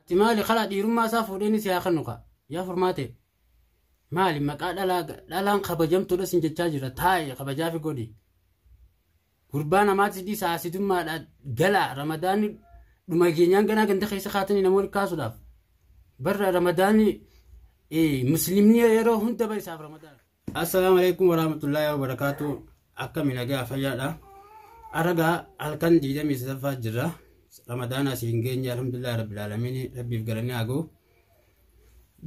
Ati maali kalaa dhiirummaa isaa fuudhee inni si haa kennu kaa. Yaa furmaatee. Maali maqaa dhalaa dhalaan kabajamtuudha sin jechaa jira taa'e kabajaafi godhi. Gurbaa namaatti dhiisa haasidummaadha galaa ramadaanni dhuma keenyaan ganaa ganda keessa kaatanii namoonni kaasuudhaaf. Barra ramadaanni muslimni yeroo hunda bara isaaf ramadaana. Assalaamu alaikum warahmatullahi wabarakatuh. Akkami nagaa fayyaadha. Aragaa halkan 23ffaa jirra. Ramadaana asii hin geenye alhamdulillah rabbil aalamiin rabbiif galanni haa ga'u.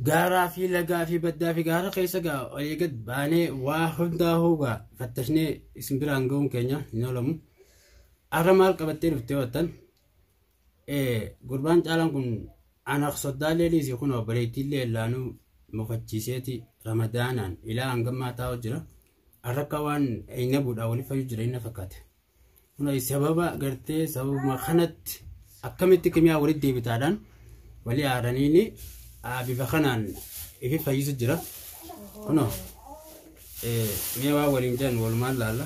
Gaaraa fi lagaa fi baddaa fi gaara keessa gaa olii gad baanee waa hundaa hoogaa fattashnee isin biraan ga'uun keenya hin oolamu. Arra maal qabattee dhuftee wattan? Gurbaan caalaan kun ana soddaallee dhiisi kun obboleettiillee illaanuu mufachiiseeti ramadaanaan ilaa hangammaa taa'u jira. Arrakka waan eenna buudhaa waliif fayyuu jira inni fakkaate. Kun sababa gartee sababuma kanatti akkamitti kimiyaa walitti deebitaadhaan walii aaraniini bifa kanaan ifi fayyisu jira. Kunoo mee waa waliin jedhan walumaan laalla.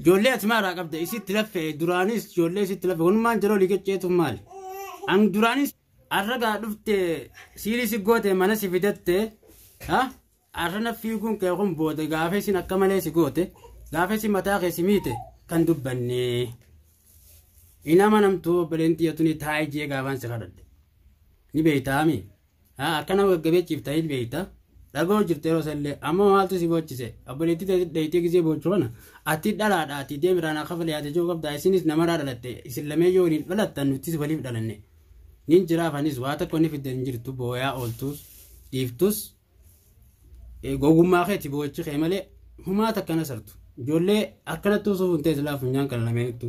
Ijoollee asumaa irraa qabda isitti laffe duraanis ijoollee isitti laffe wanumaan jiroo liqicceetu maali? An duraanis arragaa dhufte siirii si goote mana si fidatte ha arra na fiiguun kee kun booda gaafa isin akka malee si goote gaafa isin mataa kee si miite kan dubbanne. Inama namtuu obboleen xiyyatuni taa'ee jee gaafaan si kadhadhe. Ni beektaami. Haa akka nama gaggabeechiif ta'in beekta. Dhagoo jirte yeroo sallee amma maaltu si boochise obboleettii ta'e dheeytee gisee boochu kana ati dhalaadha ati deem irraa naa kafalee ati jechuu qabda isinis namaraa dhalatte isin lamee yoo waliin dhalattan nutis waliif dhalanne nin jiraaf anis waa tokko ni fiddan hin jirtu booyaa ooltus dhiiftus eh, gogummaa keeti boochi kee malee humaa takkana sartu ijoollee akkanatti usuuf hin ta'e silaa funyaan kana lameenittu.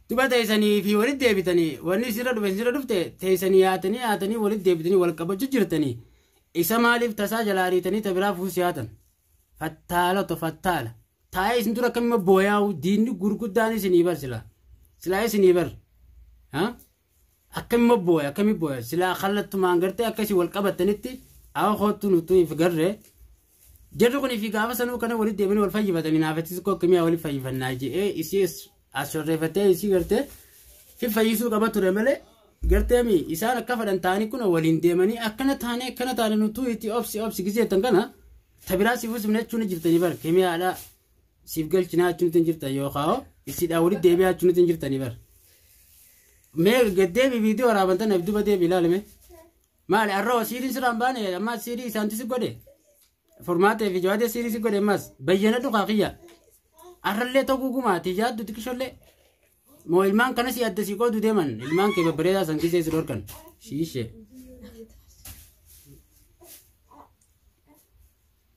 Duba teysanii fi walit deebitanii wanni isirra dhufe isirra dhufte teysanii yaatanii yaatanii walit deebitanii wal qabachu jirtanii isa maaliif tasaa jalaa ariitanii ta biraa fuus yaatan fattaala to fattaala taa'ee isin dura akkamima booyaa'u diinni gurguddaan isinii bar silaa silaa isinii bar ha akkamima booya akkami booya silaa kallattumaan gartee akkasii wal qabattanitti awa koottu nutu if garre Jarri kun fi gaafa sanuu kana walitti deemanii wal fayyifatanii naafatti xiqqoo kimiyaa walitti fayyifannaa je'ee isii as shorreeffattee isii gartee fi fayyisuu qaba ture malee gartee mi isaan akka fadhan ta'anii kun waliin deemanii akkana taane akkana taane nutuu itti obsi obsi giseettan kana tabiraa siif usumne jechuun jirtanii bar kimiyaadhaa siif galchinaa jechuun ittiin jirtan yookaan isiidhaa walitti deebi'aa jechuun ittiin jirtanii bar. Mee gaddeebi viidiyoo waraabantan abduba deebi ilaalame. Maali arroo siiriin sirraa hin baane ammaas siirii isaantu si godhe. Furmaatee fi jawaadee siirii si godhe ammaas bayyana dhugaa kiyya. Arrallee ta'uu gugumaa ati yaaddu xiqqishollee. Moo ilmaan kanas adda si qoodu deeman ilmaan kee babbareedaa san gisee si dhorkan. Shiishee.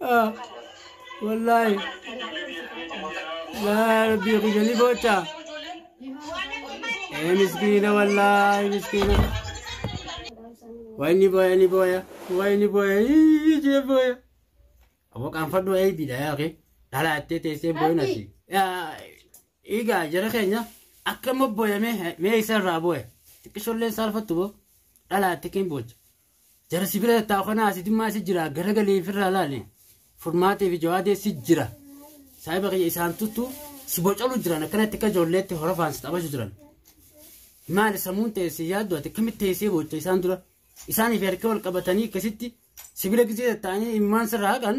Ah, Wallaahi. Laa rabbii kiyya ni boocha. Ee miskiina wallaahi miskiina. Wayi ni booya ni booya. Wayi ni booya. Ii, Ishee booya. Aboo qaanfadhu eebiidha yaa kee. Dhalaa ittee teessee booyina si. Yaa, Egaa jara keenya akka immoo booya mee mee isa irraa booya. Xiqqishoolleen saalfattu boo. Dhalaa itti keen boocha. Jara si bira tattaa'u kana asidummaa si jira garagalee ofirraa laale furmaatee fi jawaadee si jira. Saahiba kiyya isaan tuttu si bocalu jiran akkanatti akka ijoolleetti horofaan si taphachu jiran. Maali sammuun ta'e si yaaddu ati akkamitti teessee boocha isaan dura isaaniif harka wal qabatanii akkasitti si bira gisee tattaa'anii imimmaan sirraa haqan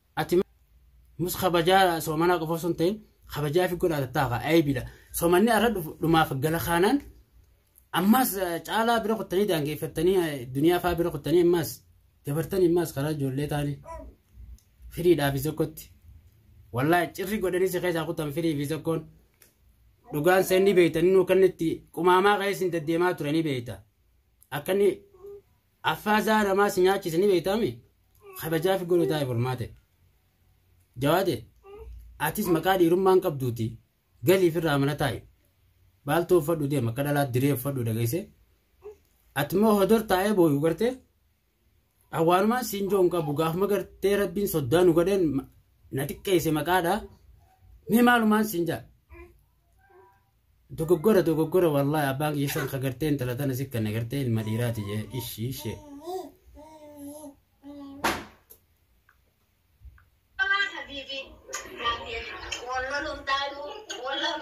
Ati mus kabajaa soomanaa qofa osoo hin ta'in kabajaa fi godhaa tattaa kaa ayibiidha. Soomanni arra dhufu dhumaaf gala kaanaan ammaas caalaa bira kuttanii daangeeffattanii duniyaa faa bira kuttanii ammaas dabartanii ammaas karaa ijoollee taanii firiidhaa fi sokkotti. Wallaahi cirri godhanii si keessaa kutan firii fi sokkoon dhugaan seen ni beekta inni kannitti qumaamaa keessi hin deddeemaa ture ni beekta. Akka inni Affaa zaa namaa si nyaachise ni beektaami? Kabajaafi godhu taa'e furmaate. Jawaade, atis maqaa dhiirummaan qabduuti galiif irraa mana taa'i. Baaltuu uffadhu deema akka dhalaa diree uffadhu dhageesse. Ati immoo hodor taa'ee booyu garte. Awwaanumaan siin joon qabu gaafuma gartee rabbiin soddaa nu godheen na xiqqeesse maqaadha. Mee maalumaan siin jaa? Dogoggora dogoggora wallahi abbaan kiyya san kagartee intala tana si kan agartee ilma dhiiraati jee ishii ishee. Wallah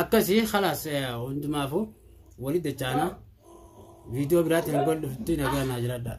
akkasii khalaas hundumaafuu walitti dachaanaa viidiyoo biraatiin wal dhufti nagaa naa jiradhaa.